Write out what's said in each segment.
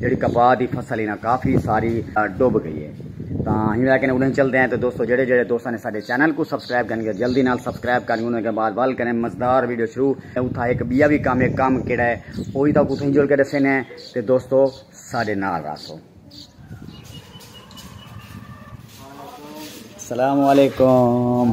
جیڑھی کپاہ دی فصل ہی نا کافی ساری ڈوب گئی ہے تاں ہی ویکھنے اڑیں چلدے ہیں تو دوستو جڑے جڑے دوستاں نے ساڈے چینل کو سبسکرائب کرن گے جلدی نال سبسکرائب کرن انہاں کے بعد ول کریں مزدار ویڈیو شروع اوتھا ایک بیا بھی کام ہے کام کیڑا ہے اوہی تاں کتھوں جڑ کے دسے نے تے دوستو ساڈے نال راسو السلام علیکم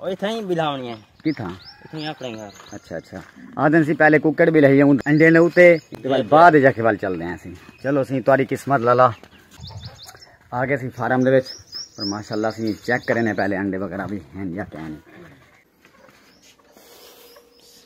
او اتھاں ہی بلاونی ہے کتھاں اتھاں ہی اپنے گھر اچھا اچھا آدن سی پہلے کوکڑ بھی لہی ہوں انڈے نے اوتے تے بعد بعد جا کے ول چل دے ہیں سی چلو سی تاری قسمت لالا آ گئے سی فارم دے وچ پر ماشاءاللہ سی چیک کرنے پہلے انڈے وغیرہ بھی ہیں یا کہیں نہیں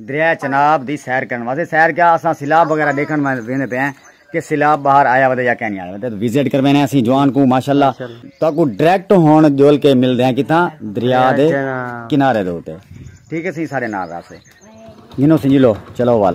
دریا چناب دی سیر کرن واسطے سیر کیا اساں سیلاب وغیرہ دیکھن ویندے پے ہیں کہ سیلاب باہر آیا ودے یا کہیں نہیں آیا ودے وزٹ کر وینے اسی جوان کو ماشاءاللہ تو کو ڈائریکٹ ہون جول کے مل دے ہیں کتھاں دریا دے کنارے دے ہوتے ٹھیک ہے سی سارے نال راسے جنو سنجلو چلو وال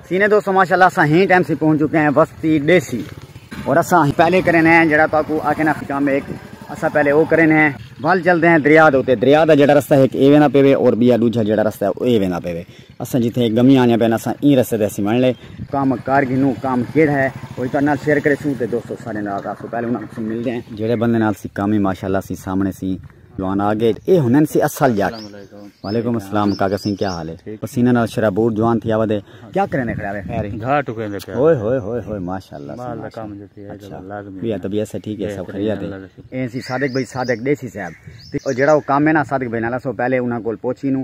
سینے دوستو ماشاءاللہ اساں ہی ٹائم سے پہنچ چکے ہیں وستی ڈیسی اور اساں پہلے کرنے ہیں جڑا تو کو آکھے نا خکام ایک اساں پہلے او کرنے ہیں وال چلتے ہیں دریا دے ہوتے دریا دا جڑا رستہ ہے ایک ایوے نا پیوے اور بیا دوجہ جڑا رستہ ہے او ایوے نا پیوے اساں جیتے ایک گمی آنے پہنے اساں این رستہ دے سی من لے کام کار گھنو کام کیڑ ہے اور ایتا نال شیئر کرے سو تے دوستو سارے نال رکھو پہلے انہاں کسی مل دے ہیں جڑے بندے نال سی کامی ماشاءاللہ سی سامنے سی جوان آگے اے ہنن سی اصل جٹ وعلیکم السلام کاکا سنگھ کیا حال ہے پسینہ نال شرابور جوان تھی آوا دے کیا کرنے کھڑا ہے خیر ہی گھا ٹکے دے پیا ہوئے ہوئے ہوئے ہوئے ماشاءاللہ مال دا کام جو تھی اچھا لازمی بیا طبیعت سے ٹھیک ہے سب خیریت ہے اے سی صادق بھائی صادق دیسی صاحب تے جڑا او کام ہے نا صادق بھائی نالا سو پہلے انہاں کول پوچھی نو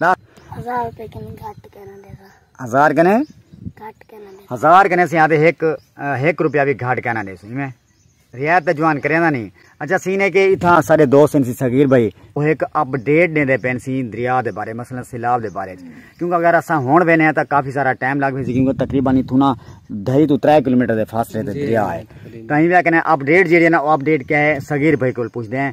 ہزار روپے کنے گھٹ کنا دے سا ہزار کنے گھٹ کنا دے ہزار کنے سی آتے ایک ایک روپیہ بھی گھٹ کنا دے سو میں ریات تے جوان کرے نہیں اچھا سینے کے اتھا سارے دوست ہیں سی صغیر بھائی وہ ایک اپ ڈیٹ دے دے پین سی دریا دے بارے مثلا سیلاب دے بارے کیونکہ اگر اسا ہون وینے ہیں تا کافی سارا ٹائم لگ بھی سی کیونکہ تقریبا نہیں تھونا دھائی تو ترے کلومیٹر دے فاصلے دے جی، دریا ہے کہیں بھی کہنے اپ ڈیٹ جیڑی ہے نا اپ ڈیٹ کیا ہے صغیر بھائی کو پوچھ دے ہیں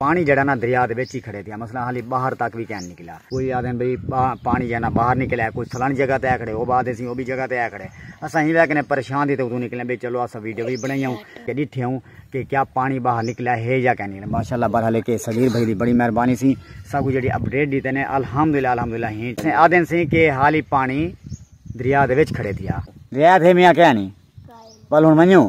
پانی جیڑھا نا دریا دے وچ ہی کھڑے پیا مثلا حالی باہر تک وی کین نکلا کوئی آدھن بھئی پانی جیڑھا نا باہر نکل ہے کوئی سلن جگہ تے آ کھڑے او بات اسی او بھی جگہ تے آ کھڑے اساں ہی وے کنے پریشان دی تے اتوں نکلے بھئی چلو اساں ویڈیو وی بنائی ہوں کہ ڈٹھے ہوں کہ کیا پانی باہر نکلا ہے یا کین نکلا ماشاءاللہ برحال کہ صغیر بھائی دی بڑی مہربانی سی سب کو جڑی اپڈیٹ دیتے نے الحمدللہ الحمدللہ ہی سے آدھن سی کہ حالی پانی دریا دے وچ کھڑے تھیا دریا تھے میاں کہنی بل ہن منیو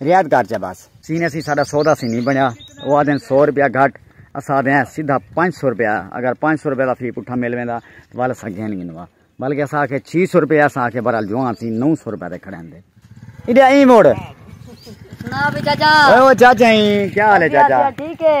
رعایت کر چا بس۔ سین اسی ساڈا سودا سی نی بنیا او آدھن سو روپیہ گھٹ اسا آدھے ہیں سیدھا پنج سو روپیہ اگر پنج سو روپیہ دا فی پٹھا مل ویندا تاں ول اسا گھن گھنوا بلکہ اسا آکھے چھی سو روپیہ اسا آکھے برحال جوان سی نو سو روپیہ تے کھڑین دے ایڈیا ایں موڑ سنا وی چاچا او چاچا ایں کیا حال ہے چاچا ٹھیک ہے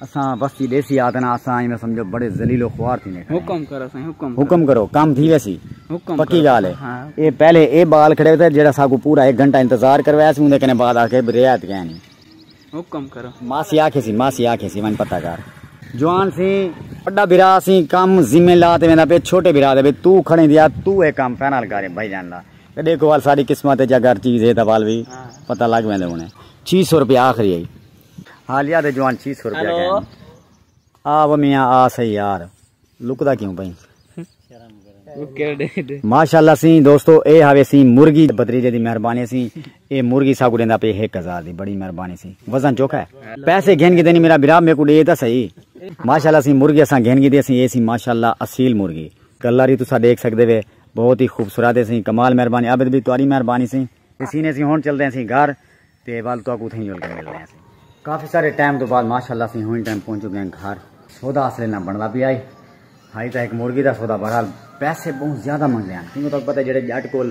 اساں وستی ڈیسی آدنا اساں ایندا سمجھو بڑے ذلیل و خوار تھی نے حکم کرو سائیں حکم حکم کرو کام تھی ویسی حکم پکی گال ہے ہاں۔ اے پہلے اے بال کھڑے ہوتے جڑا ساکو پورا ایک گھنٹہ انتظار کروایا سی اوندے کنے بعد آ کے رعایت گئے نہیں حکم کرو ماسی آکھے سی ماسی آکھے سی ون پتہ کر جوان سی بڑا بھرا سی کام ذمہ لا تے ویندا پے چھوٹے بھرا دے تو کھڑے دیا تو اے کام فائنل کرے بھائی جان دا تے دیکھو وال ساری قسمت وچ اگر چیز ہے تاں وال بھی ہاں۔ پتہ لگ ویندے ہونے 600 روپے آخری ہے حالیہ دے جوان چھی سر پیا گئے آ و میاں آ سہی یار لکدا کیوں پئی ماشاءاللہ سی دوستو اے ہاوے سی مرگی بدریجے دی مہربانی سی اے مرگی سا کو دیندا پے 1000 دی بڑی مہربانی سی وزن چوکھا ہے پیسے گھن کے دینی میرا برا میرے کو دے تے سہی ماشاءاللہ سی مرگی اساں گھن کے دے سی اے سی ماشاءاللہ اصیل مرگی گلاری تسا دیکھ سکدے وے بہت ہی خوبصورت ہے سی کمال مہربانی عابد بھی تہاڈی مہربانی سی سی نے سی ہن چلدے سی گھر تے ول تہاکوں اتھاں ہی جل کے ملدے ہاں۔ کافی سارے ٹائم توں بعد ماشاء اللہ اسیں ہن ٹائم پہنچ چکے ہیں گھر۔ سودا اصلے نہ بندا پیا ہے۔ ہائی تاں ہک مرغی دا سودا بہرحال پیسے بہوں زیادہ منگدے ہیں۔ کیونکہ تہاکوں پتہ ہے جیڑھے جٹ کول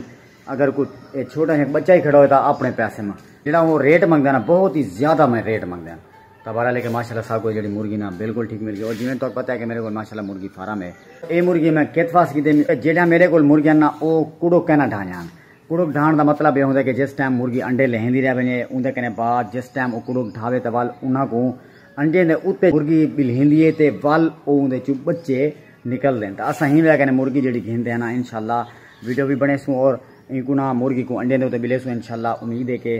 اگر کوئی چھوٹا جیہا بچہ ہی کھڑا ہوئے تاں اپنے پیسے ماں جیڑھا اوہ ریٹ منگدے ہیں نا بہت ہی زیادہ میں ریٹ منگدے ہیں۔ تاں بہرحال لیکن ماشاء اللہ ساکوں جیڑھی مرغی نا بالکل ٹھیک مل گئی۔ اور جیویں تہاکوں پتہ ہے کہ میرے کول ماشاء اللہ مرغی فارم ہے۔ ایہ مرغی میں کت واسطے کیتے ہیں۔ جیڑھیاں میرے کول مرغیاں نا اوہ کوڑو کینا ڈھانیاں۔ کڑک ڈھاݨ دا مطلب اے ہوندے کہ جس ٹائم مرغی انڈے لہیندی رہ ونڄے اوندے کنیں بعد جس ٹائم او کڑک ڈھاوے تاں ول انہاں کوں انڈیں دے اتے مرغی ٻلہیندی اے تے ول او اوندے چوں ٻچے نکلدن تاں اساں ہی وے کنیں مرغی جیڑھی گھندے ہن انشاءاللہ ویڈیو وی بݨیسوں اور اینکوں نہ مرغی کوں انڈیں دے اتے ٻلیسوں انشاءاللہ امید اے کہ